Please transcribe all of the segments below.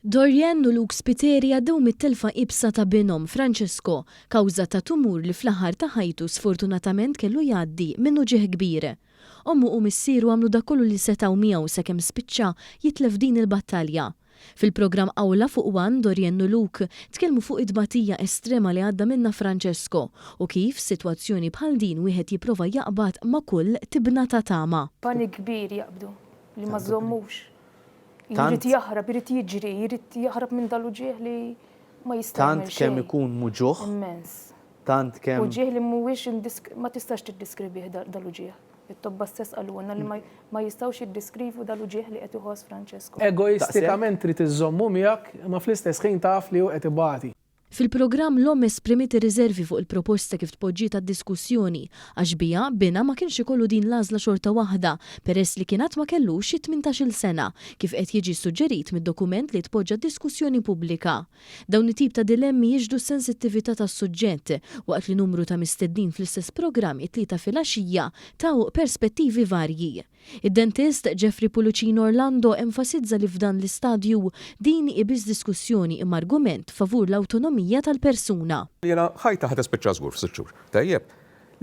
Dorianne u Luke Spiteri għaddew mit-telfa iebsa ta' binhom, Francesco, kawża ta' tumur li fl-aħħar ta' ħajtu sfortunatament kellu jgħaddi minn uġigħ kbir. Ommu u missieru għamlu dak kollu li setgħu miegħu sakemm spiċċa jitlef din il-battalja. Fil-programm Awla fuq One, Dorianne u Luke tkellmu fuq it-tbatija estrema li għadda minnha Francesco u kif f'sitwazzjoni bħal din wieħed jipprova jaqbad ma' kull tibna ta' tama. Pani kbir jaqbdu li ma żommux. Jrid jaħrab, jrid jiġri, jrid jaħrab minn dal-uġieħ li ma jista' Tant kemm ikun muġuħ. Immens. Tant kemm. Uġieħ li mhuwiex ma tistax tiddiskribih dal-uġieħ. It-tobba stess qalulna li ma jistgħux jiddiskrivu dal-uġieħ li qed iħoss Francesco. Egoistikament trid iżżommu miegħek imma fl-istess ħin taf li hu qed ibati. Fil-programm l-omm esprimiet ir-riżervi fuq il-proposta kif tpoġġiet għad-diskussjoni għax biha binha ma kienx ikollu din l-għażla xorta waħda peress li kien għad ma kellux it-tmintax-il sena kif qed jiġi ssuġġerit mid-dokument li tpoġġa d-diskussjoni pubblika. Dawn it-tip ta' dilemmi jixhdu s-sensittività tas-suġġett waqt li numru ta' mistednin fl-istess programm it-Tlieta filgħaxija taw perspettivi varji. Id-dentist Jeffrey Pulucino Orlando enfasizza li f'dan l-istadju, din hi biss diskussjoni imma argument favur l-awtonomija tal-persuna. Jiena ħajta ħa tispiċċa żgur f'sitt xhur. Tajjeb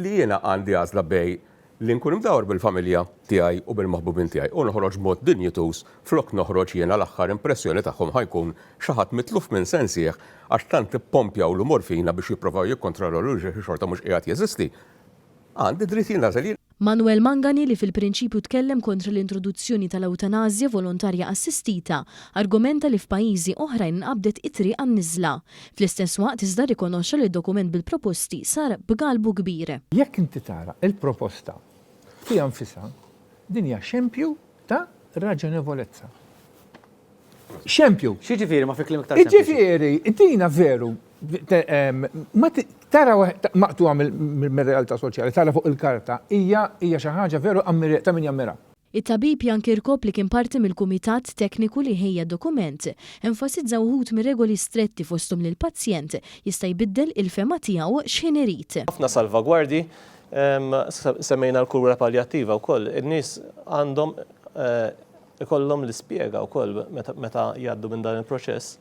li jiena għandi għażla bejn li nkun imdawwar bil-familja tiegħi u bil-maħbubin tiegħi u noħroġ b'mod dinjituż flok noħroġ jiena l-aħħar impressjoni tagħhom ħa jkun xi ħadd mitluf minn sensih għax tant ippompjawlu morfina biex jipprovaw jikkontrollawh li xorta mhux qiegħed jeżisti. Għandi dritt jiena nagħżel. Manuel Mangani li fil-prinċipju tkellem kontra l-introduzzjoni tal-ewtanasja volontarja assistita, argomenta li f'pajjiżi oħrajn inqabdet it-triq għan-niżla. Fl-istess waqt iżda rrikonoxxa li d-dokument bil-proposti sar b'galbu kbir. Jekk inti tara l-proposta fiha nfisha, din hija xempju Ta' raġonevolezza. Xempju. Xi ġifieri ma fi klim iktar. Ġifieri, dina veru ma tara maqtuha mill-realtà soċjali, tara fuq il-karta, hija hija xi ħaġa veru ta' min jammira. It-tabib Jan Kirkop li kien parti mill-kumitat tekniku li ħejja d-dokument, enfasizza wħud mir-regoli stretti fosthom li l-pazjent jista' jbiddel il-fehma tiegħu x'ħin irid. Ħafna salvagwardji Semmejna l-kura paljattiva wkoll. In-nies għandhom ikollhom l-ispjega wkoll meta jgħaddu minn dan il-proċess.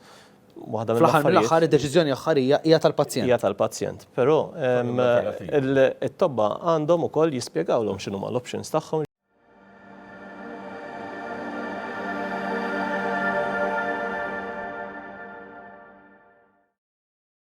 Waħda mill-affarijiet. Fl-aħħar mill-aħħar id-deċiżjoni aħħarija hija tal-pazjent. Hija tal-pazjent. Però it-tobba għandhom ukoll jispjegawlhom x'inhuma l-options tagħhom.